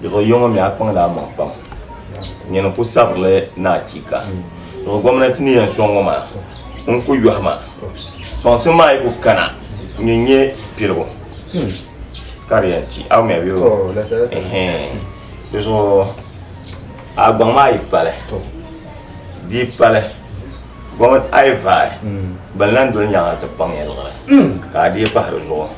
Dizuɣu yiya ŋɔ mi a kpaŋla a maŋ pam nyini ku sabirili ni achiika. Dizuɣu gomnanti ni yɛn sɔŋ ŋɔ maa n ku yɔhi ma sɔŋsim maa yi ku kana n yi nyɛ piligu ka di yɛn ti a mi a yuli dizuɣu a gbaŋ maa yi pali bia pali gomnanti a yi vaai bin lan doli nyaŋa ti kpaŋ ya luɣili ka a dii pahi dizuɣu.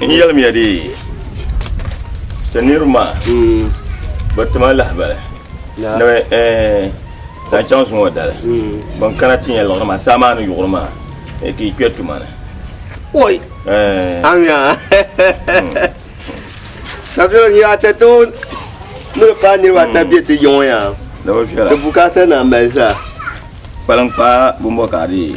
N yɛlimiya dee, ti niriba maa bɛ ti ma lahibali ni bɛ zaŋ chaŋ zuŋɔ ŋɔ dali. Bɛn kana ti nya liɣiri maa saamaanu yuɣiri maa ka yi kpe tuma ni. Oi! Amiya! Sabila niriba ata toon ni di paai niriba ata be ti yiŋɔ yaa. Di bi viɛla. Di bukaata naa mali zaa. Kpaliŋkpaa bɔmbɔ ka a dee.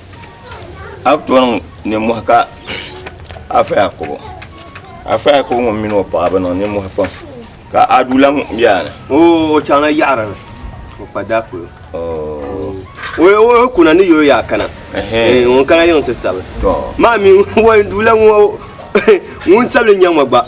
a bi tɔŋ nimohi ka afa yakubu afa yakubu ŋun mini o paɣa bi niŋ nimohi pam ka adulaŋ biɛni o chaŋla yaɣara ni o kpa daa polo o kuna ni yoo yaa kana ŋun kana yiŋ ti sabili maa mi ŋun dula ŋun sabili nyɛ ŋɔ gba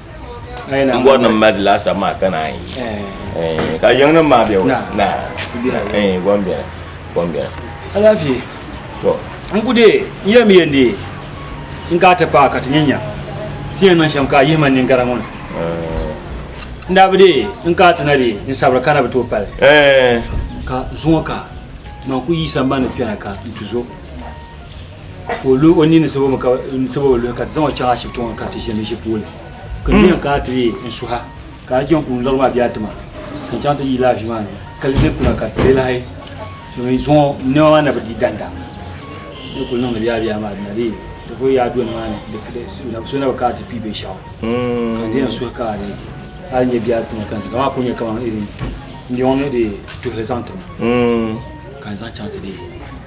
n bɔri ni mali laasabu maa ka naan yi eh. ka yiŋnim maa bɛ wula na eh, gom bɛni gom bɛni alaafee to n ku deei n yɛn mi yɛn deei n ka ti paai ka ti nyɛ nya ti yɛn niŋ shɛm ka a yihima n ninkara ŋɔ ni eh. n daa bi deei n ka ti na deei n sabiri ka na bi tooi pali ka zuŋɔ ka man ku yi sambani kpɛna ka n ti zo ka o lu o nini sabo mi ka n sabo bi luhi ka ti zaŋ o chaŋ ashibiti ŋɔ ka ti ʒini ʒi puuni ka n yɛn kana ti yi n suha ka a jɛnkun lɔri maa bɛ a tima ka n chaŋ ti yi laafii maa ni ka li bɛ kuna ka ti lahi domin zuŋɔ niɛma maa na bi di danda ni kuli niŋdi biyaa biyaa maa di na di di ku yaa doni maa ni di di so na bi kana ti kpi binshaɣu ka n di yɛn suhi ka a di a ni nyɛ biyaa tima ka n zaŋ maa ku nyɛ kamani irin n yɔŋ ni di tuhili zaŋ tim ka n zaŋ chaŋ ti di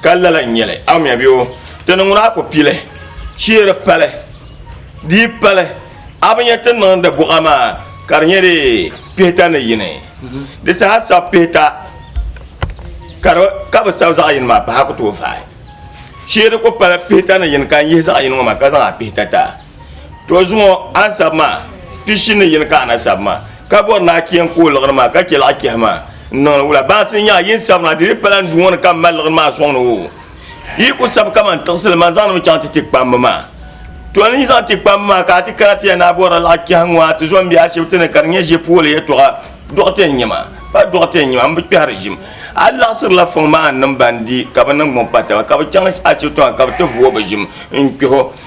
Ka lala n nyɛli awumya bɛ o ti ni ŋuna ku pili cheeri pali dii pali a bi nyɛ ti niŋdi buɣa maa ka di nyɛ di pihita ni yini di saha sabi pihita ka bi sabi zaɣ yini maa pahi ku tooi fahi cheeri ku pali pihita ni yini ka n yihi zaɣ yini ŋɔ maa ka zaŋ a pihita ta to zuŋɔ ansab maa pishi ni yini ka anasab maa ka bɔri naa keen ka o liɣiri maa ka chɛ laɣa kɛhi maa n niŋdi wula baasi n nyaa yin sabiri maa di di pala n du ŋɔ ni ka m mali liɣiri maa sɔŋni o yi ku sabi kaman tiɣisili man zaŋdi mi chaŋ ti ti kpambi maa to n yi zaŋ ti kpambi maa ka a ti kana ti ya naa bɔrila laɣa kɛhi ŋɔ a ti zɔn bɛ ashibiti ni ka di nyɛ ʒe pooli yɛtɔɣa dɔɣite n nyɛ ma pa dɔɣite n nyɛ ma m bi kpɛhiri ʒim a laɣisirila fɔŋ maa n niŋ ban di ka bi niŋ gbuŋ pa taba ka bi chaŋ ashibiti maa ka bi ti vuo bi ʒim n kpɛho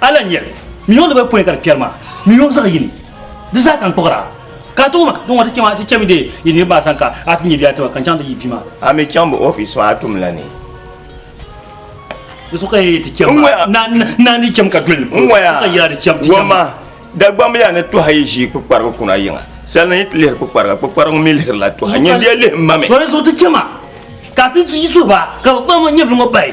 A lahi nyɛli ni yuŋ di bi pɔi ka di kpɛri maa ni yuŋ zaɣ yini di zaa kan kpuɣira ka a ti wum din ŋɔ ti chɛ maa ti chɛmi deei yi niriba maa sani ka a ti nyɛ bɛ a tiba ka n chaŋ ti yi vi maa. A mi chaŋ bɛ ofiisi maa tum la ni. Di so ka yi ti chɛm maa naa ni chɛm ka duli ni polo ka yɛla di chɛm ti chɛm maa. Dagbamba yaa ni tuha yi ʒii kpukparigu kuna yiŋa salina yi ti lihiri kpukpariga kpukpariga ŋɔ mi lihirila tuha nyindiya lihi m ma mi. Tɔri zuɣu ti chɛ maa ka a ti yi suhi ba ka bɛ kpaŋ nyɛvili ŋɔ bahi.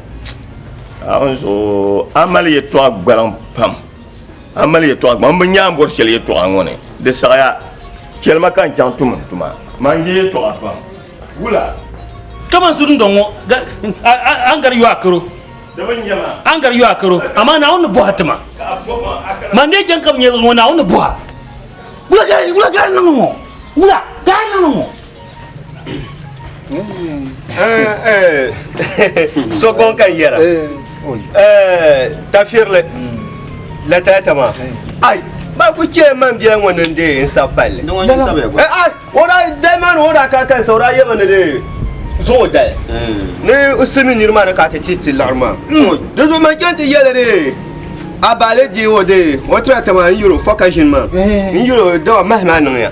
a mali yɛtɔɣa gbaliŋ pam a mali yɛtɔɣa gbaliŋ bi nyaanga bɔri shɛli yɛtɔɣa ŋɔ ni di saɣaya chɛlima ka n chaŋ tum tuma maa n yɛ yɛtɔɣa pam wula. kaman su dundɔŋ ŋɔ a ni gari yo a karo a ni gari yo a karo amaa naawuni ni bɔha tima man dee chɛŋ ka bi nyɛ ŋɔ naawuni ni bɔha wula gari niŋ ŋɔ wula gari niŋ ŋɔ sokon kan yɛra tafirili latayata maa ai ba ku chɛ man biɛla ŋɔ ni de n sa palli o daa dali maa ni o daa ka kansa o daa yɛma ni de zuŋ o dali ni o simi niri maa ni ka ti ti ti laɣari maa di zuɣu man chɛŋ ti yɛli de a baale di o de o tira tama n yiro fɔ ka ʒini maa n yiro dama mahi maa niŋya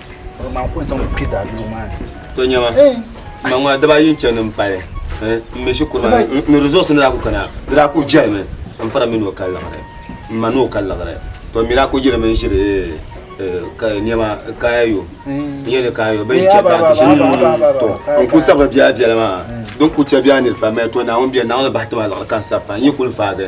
to nyɛma ma ŋɔ daba yi chɛ ni pali n mi shikuru ma ni resource ni daa ku kana di daa ku viɛli mi n fara mi ni o ka liɣiri n ma ni o ka liɣiri to mi daa ku yiri mi ʒiri niɛma kaya yo n yɛ ni kaya yo bin chɛ biɛɣu ti shini to n ku sabiri biɛla biɛla maa din ku chɛ biɛɣu niri pam to naawuni biɛni naawuni bahi ti ma liɣiri ka n sabi pam n yi ku faagi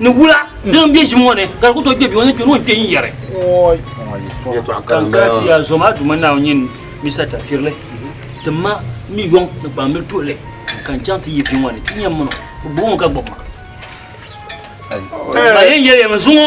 Ni wula din be ʒim ŋɔ ni ka di ku tooi kpe bɛ o ni kpe ni o ni kpe n-yɛri. Ka n kana ti ya zuɣu maa Duuma Naawuni nyin Mista Tafirili, tim ma mi yɔŋ ni kpaambil tuɣili ka n chaŋ ti yi vi ŋɔ ni. Ti nya m mini o, bɛ gbubi mi ka gbib ma. Ba yɛn yɛli ya mi zuŋɔ.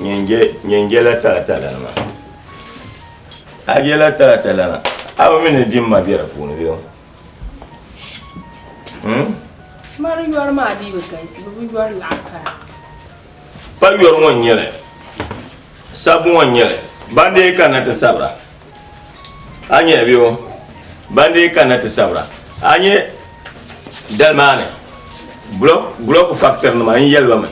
Nyin jela talatalanima. A jela talatalana, a bi mi ni dimma be di puuni bee? Hmm? Ma di yɔri maa dii bi galisi, bi bi yɔri laɣim kara. Pa yɔri ŋɔ n-nyɛli, sabbu ŋɔ n-nyɛli, ban dee kanna ti sabira. A nyɛ bɛ o ban dee kanna ti sabira. A nyɛ dali maa ni bulɔku faktirinima n-yɛli ba mi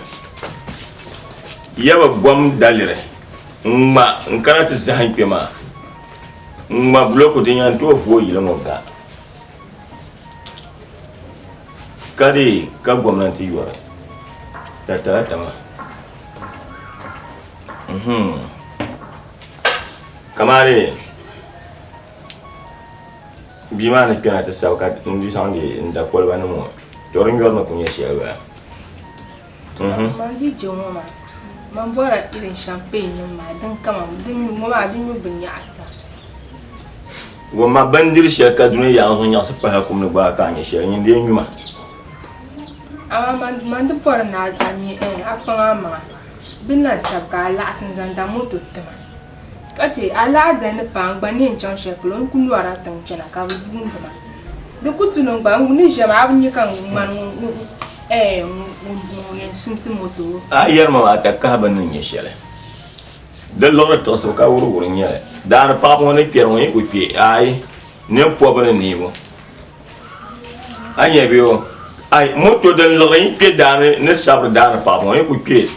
ya bi gom daliri ŋ-ŋma n-kana ti zahim kpe maa, ŋ-ŋma bulɔku din yɛn tooi vooi yili ŋɔ ga, ka di ka gomnanti yɔri di talata maa. kamani bia maa ni kpɛna ti sabi ka n di zaŋdi n da koliba nim ŋɔ to di nyɔri ni ku nyɛ shɛli bala man di je ŋɔ maa man bɔra irin champagne nim maa din kama din ŋɔ maa di nyu bi nyaɣasa ŋɔ ma bindiri shɛli ka duni yaɣa zuŋ nyaɣasi pahala kum ni gbaai ka a nyɛ shɛli nyin di yɛn nyuma amaa man man di bɔri ni a a nyɛ ɛɛ a kpaŋ a maŋa Bɛ ni lahi sab ka a laɣisi n-zaŋ da moto ti ma, ka chɛ a lahi da ni paai n gba neen chaŋ shɛli polo n ku lɔri a tiŋ chana ka bɛ yuundi ma. Di ku tuli n gba n ni ʒiɛm a bi nya ka ŋmani ŋun yɛn simsi moto o. A yɛri ma maa ta kahi bɛ ni nya shɛli. Di luɣili tiɣisibu ka wuriwuri nyɛ li. Daani paɣiba ŋɔ ni kpɛri ŋɔ yi ku kpɛ aai, nir pɔbu ni neebu. a nyɛ bɛ o ai moto din liɣi yi kpɛ daani ni sabiri daani paɣa ŋɔ yi ku kpɛ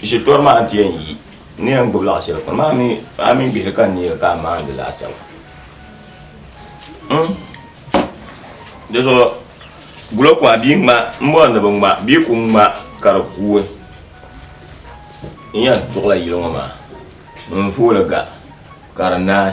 shitori maa n ti yɛn yi ni yɛn gbubi laɣa shɛli kuni maa mi a mi bihi ka neeri ka a maandi laasabu hmm? di zuɣu gulo ku a bia ŋma n bɔri ni bi ŋma bia ku ŋma ka di kuui n yɛn tuɣila yili ŋɔ maa n vooli ga ka di naai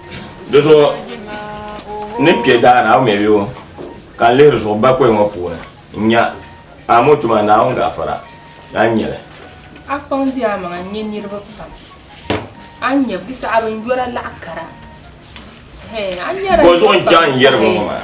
Di zuɣu ni n kpe daani a ŋmɛ yo ka n lihiri zuɣu bakɔi ŋɔ puuni n nya a mo tuma Naawuni gaafara a ni nyɛli. A kpaŋ di amaŋa n-nyɛ niriba pam, a ni nyɛ bɛ saɣi binyɔra laɣ kara. Bɔ zuɣu n-chaŋ n yɛri ba ŋɔ maa?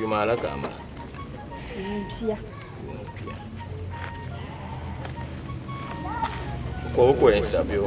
Yuma ala ka a mali? Yuun pia. Yuun pia. Ko o ko yɛn sabi o.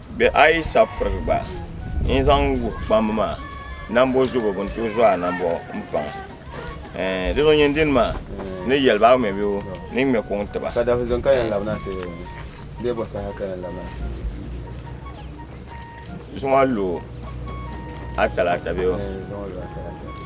Bɛ a yi sa pirigi gba, n zaŋ wuhi kpamba maa nambo zubu bɛ ni tooi zo a nambo m-paŋ ɛɛn, di zuɣu nyin dini maa ni yɛli ba a ŋme bɛ o ni ŋme kuŋ ti ba. Ka dafi zuŋ ka yɛn labi na ti o ni bee bɔ saha ka yɛn labi na ti o ni? Zuŋɔ lu a talaata bee o? Ɛɛn, zuŋɔ lu a talaata bee o?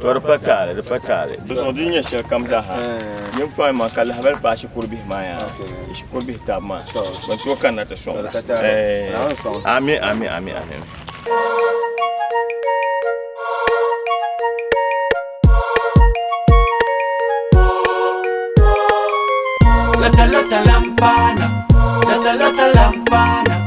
To di pa taali, di pa taali. Di zuɣu di nyɛ shɛli kam zaaha. Ninkpɔŋ maa ka lahabali paai shikuru bihi maa yaa. Shikuru bihi tabi maa. Ban tooi kanna ti sɔŋ. Amin, amin, amin, amin. Lata lata lampana, lata lata lampana.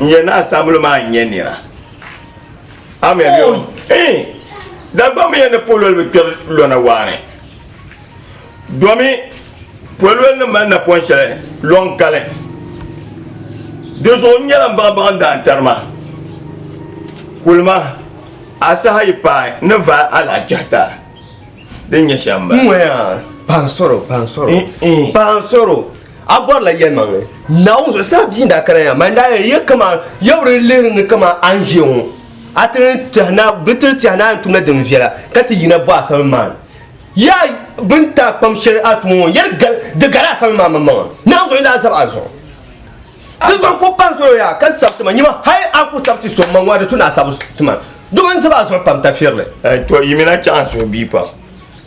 n yɛn na asambili maa n nyɛ nira dagbamba yɛn ni pololi bi kpɛri lɔna waani domi pololi nim mali napɔn shɛli lɔn kali di zuɣu n nyɛla n baɣa baɣa n daan tarima kulima asaha yi paai ni va alaajahita din nyɛ shɛm ba pansoro pansoro pansoro A bɔrila yɛlimaŋli Naawuni zuɣusaa bia n-daa kana ya, man daa ya ya kaman ya bi di lihiri ni kaman a ni ʒiya ŋɔ. A ti ni tɛhi na, di ti tɛhi ni a ni tumda din viɛla ka ti yina bɔ a samli maa ni. Ya bɛn daa kpam shɛli a tumo ŋɔ, ya di gari a samli maa maŋmaŋa. Naawuni zuɣu daa zab a zuɣu. Di zuɣu n-kul pahi salo yaa ka sab ti ma, nyama hal a ku sab ti so maŋmaŋa di tu ni a sab ti ma. Dama n zab a zuɣu pam tafirili. Tɔ! Yimina chaŋ a suhubia pam.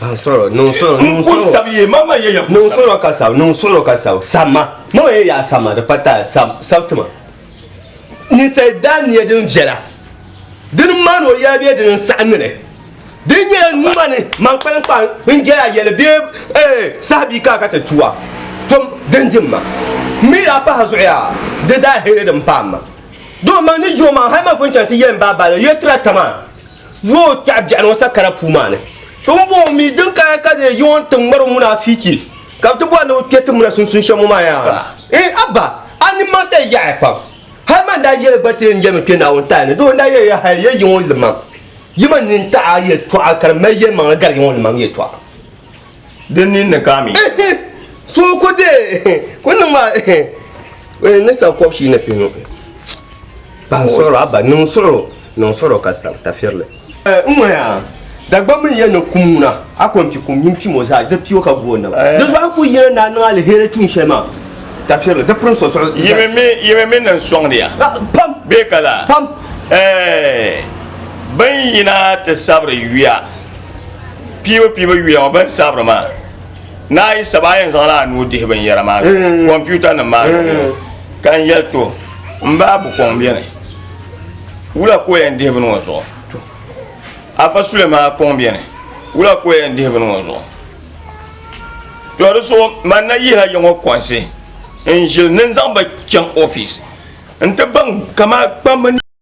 Sɔrɔ, niŋ sɔrɔ, niŋ sɔrɔ. Sab ye ma ma ye ya. Niŋ sɔrɔ ka sab, niŋ sɔrɔ ka sab. Sab ma, ma ma ye ya sab ma, di pa taai, sab, sab ti ma. Ninsal daa nia din viɛla, di ni maani o yɛli bee di ni saɣi nini? Di ni nyɛla numa ni man kpaliŋkpaa n-jɛli a yɛli bee ee saha bia ka a ka ti tu a? Tom din di m-ma. M mi daa pahi zuɣu yaa, di daa hiri din paai m-ma. Doo, man ni ji o maŋ hal man pun chaŋ ti yɛli m ba Abale, Yuli tira tam a. Yo kpɛɣi biɛɣuni ŋɔ sakara puu maa ni. Tiŋbɔŋɔ mi din kana ka di yiŋɔ n-ti ŋmari o munaafichi ka bɛ ti bɔri ni bɛ kpɛ tiŋbina sunsuuni shɛm ŋɔ maa yaa. Eeh Abba! A nimmaŋ ka yi yaɣiya pam. Hali man daa yɛli gba ti yɛn yɛlimi kpɛ Naawuni taali ni doo n-daa yɛli ya hal ya yiŋɔ limam. Yi man nini taɣi a yɛltɔɣa ka di mali yɛlimaŋli gari yiŋɔ limam yɛltɔɣa. Din nin ni ka mi. So ko de ko niŋ ma ni sa kɔb shi ni pinu. Ban sɔrɔ a ba niŋ sɔrɔ niŋ sɔrɔ ka sa ta firili. N ŋɔ ya dagbam mi yɛn ni kum ŋuna a ko n pi kum mini pim o zaa di pio ka gu o naba. Di zuɣu a ku yina naa niŋ aliheri tuun shɛli maa ta firili di pirin so suɣu. Yimi mi yimi mi niŋ sɔŋdi ya. Pam. Bee ka la. Pam. Ɛɛ bin yina ti sabiri yuya. piibu piibu yuya ŋɔ bini sabiri maa naa yi saba a yɛn zaŋla a nuu dihi binyɛra maa mm. kɔmputa nim maa mm. ka n yɛli to n baa bu kɔŋ bɛni wula ko yɛn dihi bini ŋɔ zuɣu afa sule maa kɔŋ bɛni wula ko yɛn dihi bini ŋɔ zuɣu to di so man na yihi a yɛŋɔ kɔnsi n ʒili ni n zaŋ ba chaŋ ofiis n ti baŋ kama kpambi